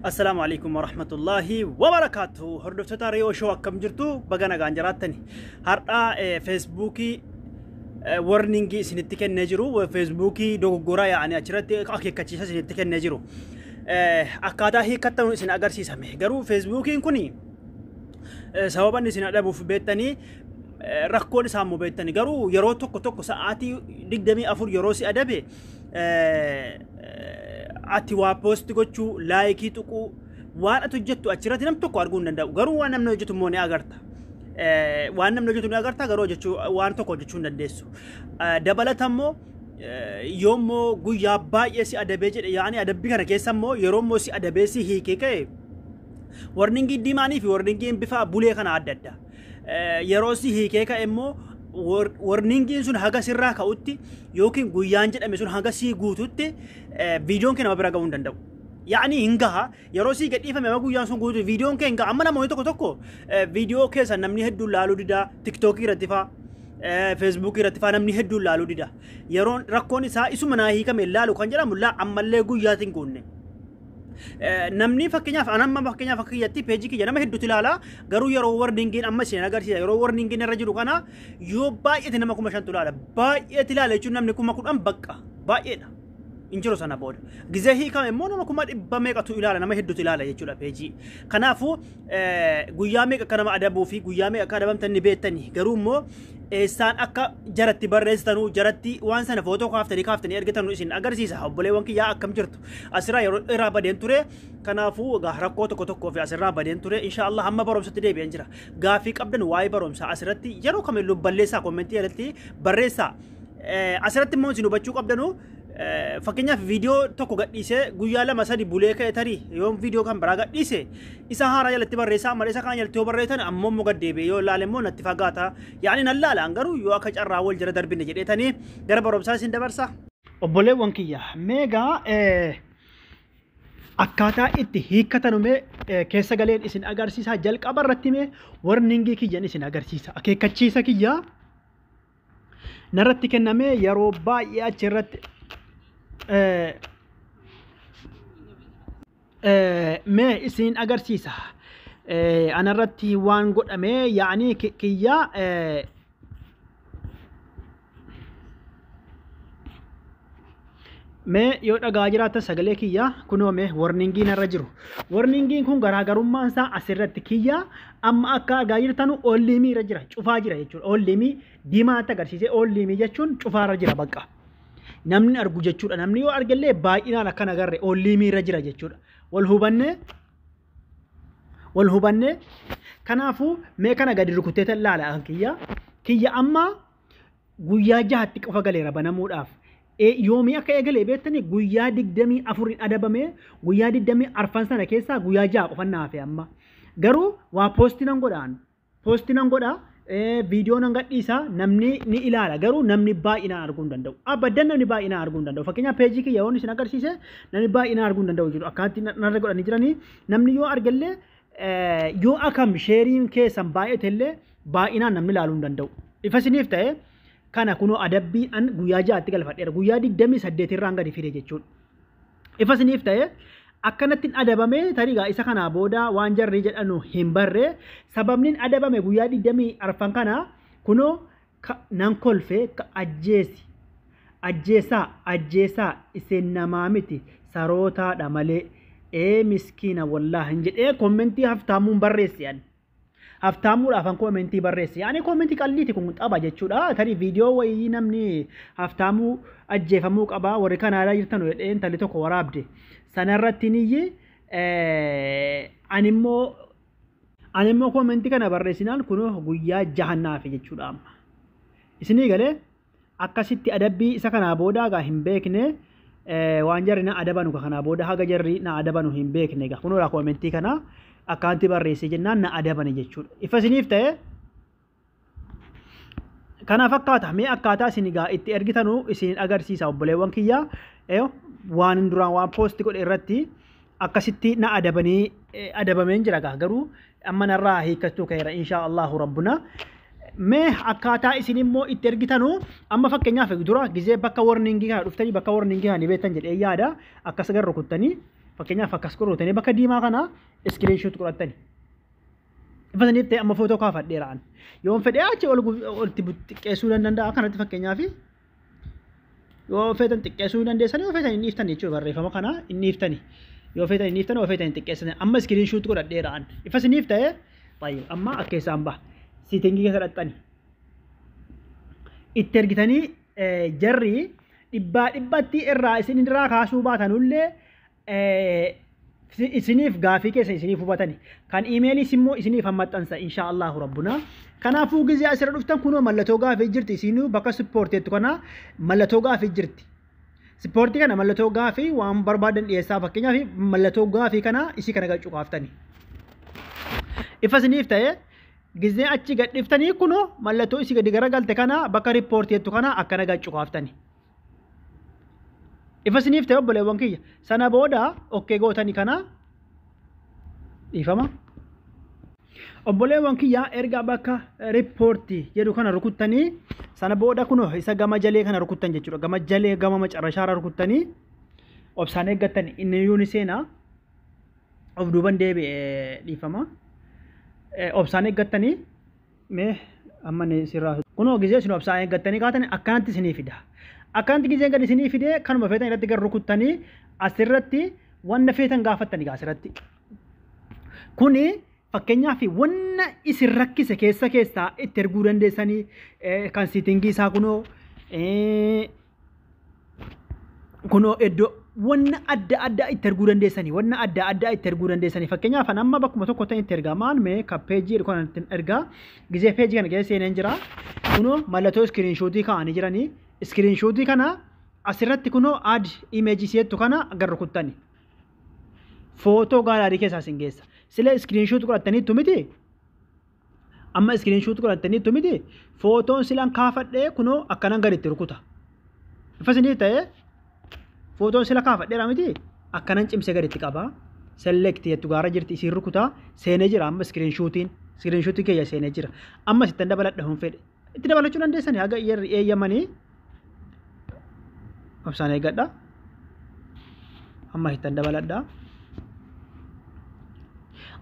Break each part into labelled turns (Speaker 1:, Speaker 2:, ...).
Speaker 1: Assalaamu alaikum warahmatullaahi wabarakaatu. Hordoftoota Reeyoo Shoo akkam jirtu baga nagaan jiraattani. Har'aa feesbuukii warningii isinitti kennee jiru. Feesbuukii dogoggoraa yaa'anii achirratti akeekkachiisa isinitti kennee jiru. Akkaataa hiikkattan isin agarsiisame. Garuu feesbuukiin kun sababa inni isin adhabuuf beektanii rakkoon isaa immoo beektanii garuu yeroo tokko tokko sa'aatii digdamii afur yeroo si adabe ati waa poosti gochuu laayikii tuquu waan ati hojjettu achirratti nam tokko arguu hin danda'u garuu waan namni hojjetu immoo ni agarta. waan namni hojjetu ni agarta garuu hojjechuu waan tokko hojjechuu hin dandeessu. Dabalata immoo yoommoo guyyaa baay'ee si adabee jedhe yaani adabbii kana keessa immoo yeroo immoo si adabee si hiikee ka'e warningii diimaanii fi warningiin bifa bulee kana adda adda. yeroo si hiikee ka'e immoo warningiin sun haga sirraa ka'utti yookiin guyyaan jedhame sun haga sii guututti viidiyoon kee nama bira ga'uu hin danda'u. Yaa'ni hin gaha yeroo sii gadhiifame amma guyyaan sun guutu viidiyoon kee hin gaha amma namoonni tokko tokko viidiyoo keessa namni hedduun laaluu didaa tiktookii irratti faa feesbuukii irratti faa namni hedduun laaluu dida yeroon rakkoon isaa isuma naa hiikame laalu kan jedhamu laa ammallee guyyaatiin guunne. namni fakkeenyaaf an amma fakkeenyaaf akka kiyyatti peejii kiyya nama hedduutu ilaala garuu yeroo warningiin amma isin agarsiisa yeroo warningiin irra jiru kana yoo baay'eeti nama kuma shantu ilaala baay'eeti ilaala jechuun namni kuma kudhan baqqa baay'eedha hin jiru sana booda gizee hiikame immoo nama kuma dhibba meeqatu ilaala nama hedduutu ilaala jechuudha peejii kanaafuu guyyaa meeqa akka nama adabuu fi guyyaa meeqa akka adabamtan ni beektani garuu immoo eessaan akka jaratti barreessitanu jaratti waan sana footoo kaaftanii kaaftanii ergitanu isin agarsiisa obboleewwan kiyyaa akkam jirtu asirraa yeroo irraa badeen ture kanaafuu egaa rakkoo tokko tokkoo fi asirraa badeen ture inshaallah hamma barumsatti deebi'een jira gaaffii qabdan waa'ee barumsaa asirratti yeroo kamillu balleessaa kommentii irratti barreessaa asirratti immoo isin hubachuu qabdanu Fakkeenyaaf viidiyoo tokko gadhiisee guyyaa lama sadi bulee ka'e tarii yoon viidiyoo kan biraa gadhiise isa haaraa jalatti barreessaa malee isa kaan jalatti yoo barreessan ammoo immoo gad deebi'ee yoo ilaale immoo natti fagaata. Yaani nan laalaan garuu yoo akka carraa wal jala darbine jedheetanii gara barumsaa isin dabarsa. Obboleewwan kiyya meegaa akkaataa itti hiikkatanu mee keessa galeen isin agarsiisaa jalqaba irratti mee warningii kiyyan isin agarsiisa akeekkachiisa kiyyaa narratti kennamee yeroo baay'ee achi irratti eh, eh, mee isin agarsiisa Eh, anarratti waan godhame yaanii ki- kiyya eh, Mee yoo dhagaa jiraattan sagalee kiyyaa kunoo mee warningii narra jiru. Warningiin kun garaagarummaan isaa asirratti kiyyaa amma akka argaa jirtanu oolliimii irra jira cufaa jira jechuudha. Oolliimii diimaatti agarsiisee oolliimii jechuun cufaarra jira bakka. Namni argu jechuudha. Namni yoo argellee baay'inaan akkan agarre oolliimii irra jira jechuudha. Wal hubannee wal hubannee kanaafuu mee kana gadi rukutteetan laala kiyya kiyya amma guyyaa jahatti qofa galeera banamuudhaaf. Eh, Yoomii akka eegalee beektanii guyyaa digdamii afuriin adabamee guyyaa digdamii arfan sana keessaa guyyaa jaha qofa na hafe amma. Garuu waa poosti nan godhaan. Poosti nan godha eh, viidiyoo nan gadhiisa namni ni ilaala garuu namni baay'inaan arguu hin danda'u. Abaddan namni baay'inaan arguu hin danda'u. Fakkeenyaaf peejii kiyya yoon isin agarsiise namni baay'inaan arguu hin danda'u jiru. Akkaatti narra godhanii jiranii namni yoo argellee Yoo akam sheeriin keessan baay'ate illee baay'inaan namni ilaaluu hin danda'u. Ifa isiniif ta'e kana kunoo adabbii an guyyaa ja'atti galfadheera. Guyyaa digdamii saddeet irraan gadi fide jechuudha. Ifa isiniif ta'e akkanatti hin adabame tarigaa isa kanaa booda waan jarri jedhanu hin barre sababni hin adabame guyyaa digdamii arfan kana kunoo Ka, nan kolfe, ka, ajjeesi. Ajjeesaa, ajjeesaa, isin namaa miti, sarootaa dha malee. Ee miskiina wollaah jedhee kommentii haftaamuun barreesse ani. Haftaamuudhaaf an kommentii barreesse. Ani kommentii qalliiti kun xaba jechuudha. Tarii viidiyoo wayii namni haftaamuu ajjeefamuu qaba warri Kanaadaa jirtan jedhee intalli tokko waraabde. Sanarratti niyyi ani immoo Ani immoo koomentii kana barreessinaan kunoo guyyaa jahan naafe jechuudha amma. Isinii galee akkasitti adabbii isa kanaa booda egaa hin beekne eh, waan jarri na adabanu ka kanaa booda haga jarri na adabanu hin beekne egaa kunoo koomentii kana akkaanti barreessee jennaan na adabani jechuudha. Ifa isiniif ta'ee Kana fakkaata mee akkaataa isin egaa itti ergitanuu isin agarsiisa obboleewwan kiyya waan duraan waan poosti godhe irratti akkasitti na adabanii adabameen jira gaa garuu amma narraa hiikkachuu ka'eera inshaa Allahu rabbuna. Mee akkaataa isin immoo itti ergitanu amma fakkeenyaaf dura gizee bakka warningii kana dhuftanii bakka warningii kana ni beektan jedhee yaada akkas gara rukuttanii fakkeenyaaf akkas rukuttanii bakka diimaa kana iskiriinshuut godhattanii. Ifataniif ta'e amma footoo kaafadheera an. Yoon fedhee achi ol itti xiqqeessuu nan danda'a kanatti fakkeenyaaf yoo feetan xiqqeessuu hin dandeessan yoo feetan hin dhiiftan jechuudha barreeffama kana hin dhiiftani. Yoo feetan hin dhiiftan yoo feetan hin xiqqeessan amma iskiriin shuutti godhadheera an. Ifa isiniif ta'e baay'ee amma akka keessaan baha. Siitingii keessa dhaqxani. Itti ergitanii jarri dhibbaa dhibbatti irraa isin irraa kaasuu baatanullee isiniif gaafii keessa isiniif hubatani kan imeeliis immoo isiniif hammaxxansa insha Allahu rabbuna kanaafuu gizee asirra dhuftan kunoo mallattoo gaafii jirti isinuu bakka ispoorteettu kana mallattoo gaafii jirti ispoortii kana mallattoo gaafii waan barbaadan dhiyeessaa fakkeenyaaf mallattoo gaafii kana isii kana gachuu kaaftani ifa isiniif ta'ee gizee achi gadhiftanii kunoo mallattoo isii gadi garagalte kana bakka riippoorteettu kana akkana gachuu kaaftani. Ifa isiniif ta'e obboleewwan kiyya. Sana booda okkee gootani kana dhiifama. Obboleewwan kiyya erga bakka riippoortii jedhu kana rukuttanii sana booda kun isa gama jalee kana rukuttan jechuudha. Gama jalee gama macarrashaarra rukuttanii obsaan eeggattan inni iyyuu ni seena. Of duuban deebi'e dhiifama. Obsaan eeggattanii Mee amma ni sirraa socho'u. Kunoo gizee isin obsaan eeggattanii kaatani akkanatti isinii fida. Akkanatti gizeen gad isinii fidee kanuma feetan irratti gad rukuttanii asirratti wanna feetan gaafattani gaa asirratti. Kuni fakkeenyaaf wanna isin rakkise keessa keessaa itti erguu dandeessanii kan siitingii isaa kunoo kunoo iddoo wanna adda addaa itti erguu dandeessanii wanna adda addaa itti erguu dandeessanii fakkeenyaaf an amma bakkuma tokko ta'e itti ergaa maal mee ka peejii jedhu kana ittiin ergaa gisee peejii kana keessa seeneen jira kunoo mallattoo iskiriinshuutii kaa'anii jiranii iskiriinshuutii kana asirratti kunoo aad imeejii si'ettu kana gara rukuttani footoo gaalaarii keessaa isin geessa sila iskiriinshuutii godhattaniittu miti Amma iskiriin shuut godhattaniittu miti footoon silan kaafadhee kunoo akkanan gad itti rukuta. Ifa isinii ta'ee footoon sila kaafadheera miti akkanan cimsee gad itti qaba. Select jettu gaara jirti isiin rukuta seenee jira amma iskiriin shuutiin iskiriin shuutii keeyya seenee jira. Amma sittan dabaladha hin fedhe. itti dabalachuu dandeessanii haga yerri eeyyamanii obsaan eeggadha amma hittan dabaladha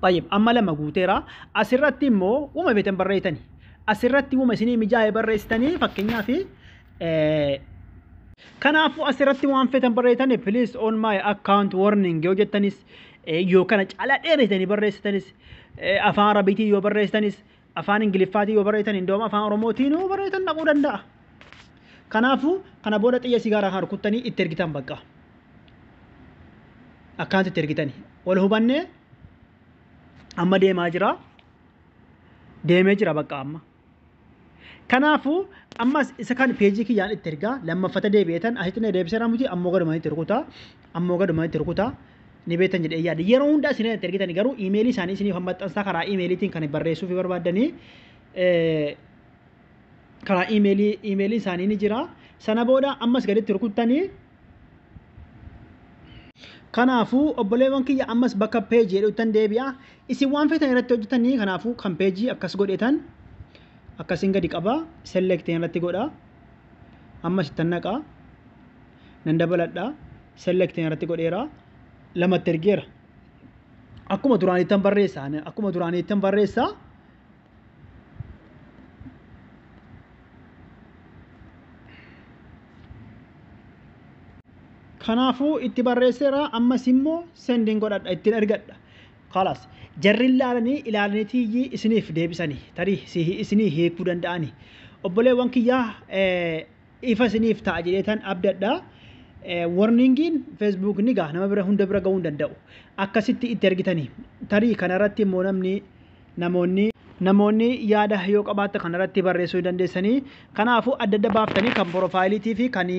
Speaker 1: طيب amma lama guuteera asirratti immoo uma beetan barreessitani asirratti uma isinii mijaa'e barreessitanii fakkeenyaaf kanaafuu asirratti waan feetan barreessitani please on my account warning yoo jettanis yoo kana caalaa dheeresitanii barreessitanis afaan arabiitiin yoo barreessitanis afaan ingiliffaatiin yoo barreessan indoom afaan oromootiin yoo barreessan dhaquu danda'a. Kanaafuu kana booda xiyya sigaaraa kan rukuttanii itti ergitan bakka. Akkaanti itti ergitani. Wal hubannee amma deemaa jira. Deemee jira bakka amma. Kanaafuu ammas isa kan peejii kiyyaan itti ergaa lammaffata deebi'eetan asitti na deebiseera miti ammoo galumaan itti rukutaa. Ammoo gaduma itti rukutaa ni beektan jedhee yaada. Yeroo hundaa isin itti ergitani garuu iimeelii isaanii isiniif hammaxxansaa karaa iimeeliitiin kan barreessuu fi barbaaddanii karaa iimeelii iimeeliin isaanii ni jira. Sana booda ammas gaditti rukuttanii Kanaafuu obboleewwan kiyya ammas bakka peejii jedhuuttan deebi'a. Isin waan feetan irratti hojjetanii kanaafuu kan peejii akkas godhetan akkasiin gadi qaba selektiin irratti godha. Ammas ittan naqa. nan dabaladha select irratti godheera lamatti ergeera akkuma duraaniittan barreessa akkuma duraaniittan barreessa kanaafuu itti barreesseera ammas immoo sendin godhadha ittiin ergadha kalas jarri ilaalanii ilaalaniitiyyii isiniif deebisanii tarii isinii hiikuu danda'anii obboleewwan kiyyaa Ifa isiniif ta'a jedheetan abdadha. Warningiin Facebook ni gaha nama bira hunda bira ga'uu hin danda'u. Akkasitti itti ergitanii tarii kanarratti immoo namni namoonni namoonni yaada yoo qabaatta kanarratti barreessuu ni dandeessanii. Kanaafuu adda adda baaftanii kan porofaayiliitii fi kan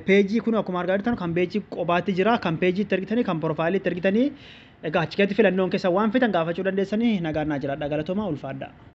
Speaker 1: peejii kun akkuma argaa jirtan kan peejii qobaatti jira kan peejii itti ergitanii kan porofaayilii itti ergitanii egaa achi keessatti filannoon keessa waan feetan gaafachuu dandeessanii nagaan naa jiraadha galatoomaa ulfaadhaa.